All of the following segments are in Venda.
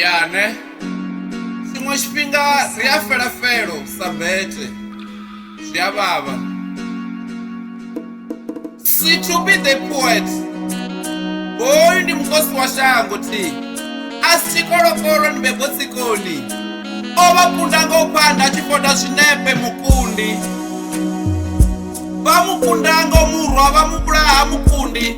yane tshiṅwe tshifhinga ri a fela felo sa bete zwi a vhavha si to be the poet hoyu ndi mukosi wa shango thi a si tshikolokolo ndi bebo tsikoni o vha kunda nga u phanda a tshi fota zwinepe mukundi vha mukunda ngo murwa vha muvhulaha mukundi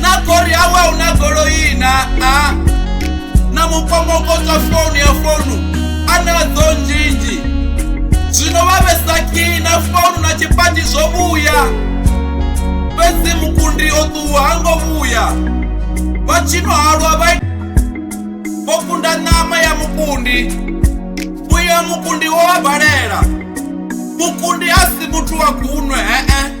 na kori awe a huna goloi na a na mukomokotsa founu ya founu a na dzo nzhinzhi zwino vha vhesa kii na founu na tshipati zwo vhuya fhedzi mukundi o ṱuwa ha ngo vhuya vha tshino halwa vha vho kunda ṋama ya mukundi uyo mukundi wo vha balela mukundi a si muthu wa gunwe hee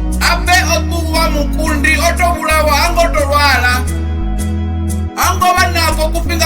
ape o ṱuwa mukundi o to vhulawa ha ngo to lwala ha ngo vha nafho kufhinga